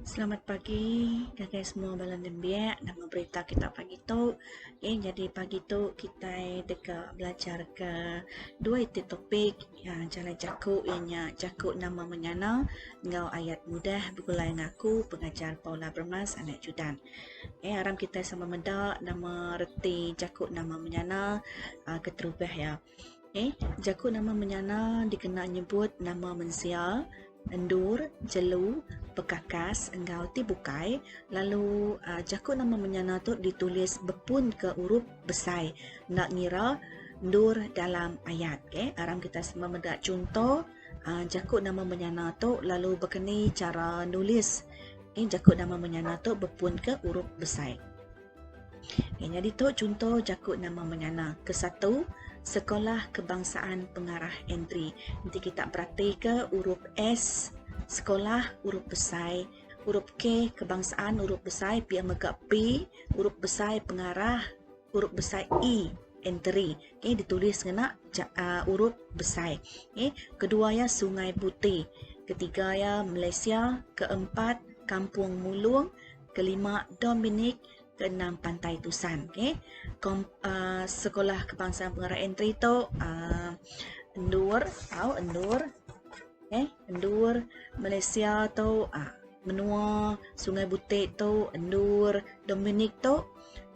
Selamat pagi ngagai semua bala nembiak nama berita kita pagi tu. Okey nyadi pagi tu kitai deka belajarka dua iti topik iya jalai jaku iya nya jaku nama menyana enggau ayat mudah begulai ngaku pengajar Paula Bermas anak Judan. Okey aram kitai sama meda nama reti jaku nama menyana keterubah iya. Okey, jaku nama menyana dikena nyebut nama mensia, endur, jelu, bekakas enggau ti bukai lalu jaku nama menyana tu ditulis bepun ke urup besai enda ngira endur dalam ayat. Okey, aram kitai semua meda chunto jaku nama menyana tu lalu baka ni chara nulis jaku nama menyana tu bepun ke urup besai. Nya nyadi tu chunto jaku nama menyana ke satu Sekolah Kebangsaan Pengarah Entry. Enti kita beratika urup S sekolah urup besai, urup K kebangsaan urup besai pia mega P urup besai pengarah urup besai E entry okay ditulis ngena urup besai. Okay kedua iya Sungai Buti, ketiga iya Malaysia, keempat Kampung Mulong. Kelima Dominic, keenam Pantai Tusan. Okey. Kom, uh, sekolah kebangsaan pengarah entry tu uh, endur tau endur. Okey, endur Malaysia tu uh, menua Sungai Butik tu endur Dominic tu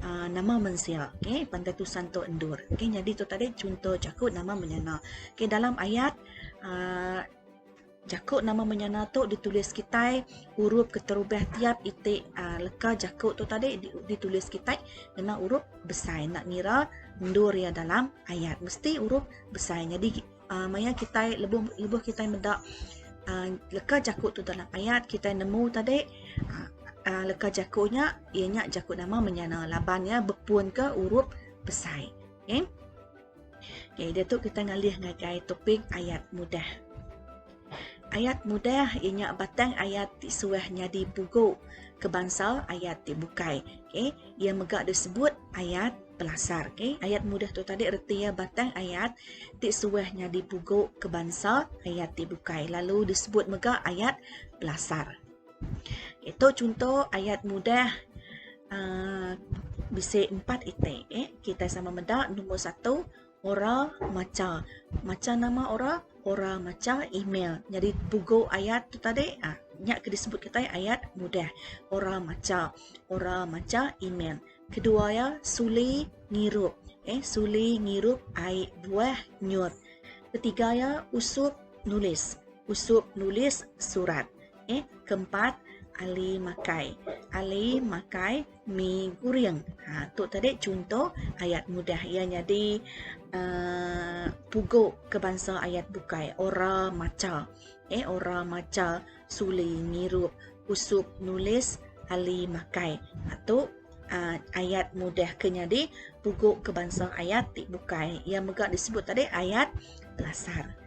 uh, nama mensia. Okey, Pantai Tusan tu endur. Okey, jadi tu tadi contoh jaku nama menyana. Okey, dalam ayat uh, Jaku nama menyana tu ditulis kitai urup keterubah tiap iti leka jaku tu tadi ditulis kitai ngena urup besai enda ngira endur iya dalam ayat mesti urup besai nyadi maya kitai lebuh kitai meda leka jaku tu dalam ayat kitai nemu tadi leka jaku nya iya nya jaku nama menyana laban iya bepunka urup besai. Okey, dia tu kita ngalih ngagai topik ayat mudah. Ayat mudah ia nya batang ayat ti suah nyadi pugu ke bansa ayat ti bukai. Okey, ia mega disebut ayat pelasar. Okey, ayat mudah tu tadi reti ia batang ayat ti suah nyadi pugu ke bansa ayat ti bukai lalu disebut mega ayat pelasar. Itu chunto ayat mudah aaa bisi empat iti eh kitai sama meda nombor satu ora macha. Macha nama ora? Ora macha email. Nyadi pugu ayat tu tadi aaa nya ke disebut kitai ayat mudah. Ora macha, ora macha email. Kedua iya suli ngirup eh suli ngirup ai buah nyut. Ketiga iya usup nulis, usup nulis surat. Okey, keempat Ali makai. Ali makai mi guring. Ha tu tadi chunto ayat mudah iya nyadi uh, pugu ke bansa ayat bukai ora macha. Eh ora macha suli ngirup usup nulis Ali makai. Ha tu uh, ayat mudah ke nyadi pugu ke bansa ayat ti bukai. Iya mega disebut tadi ayat pelasar.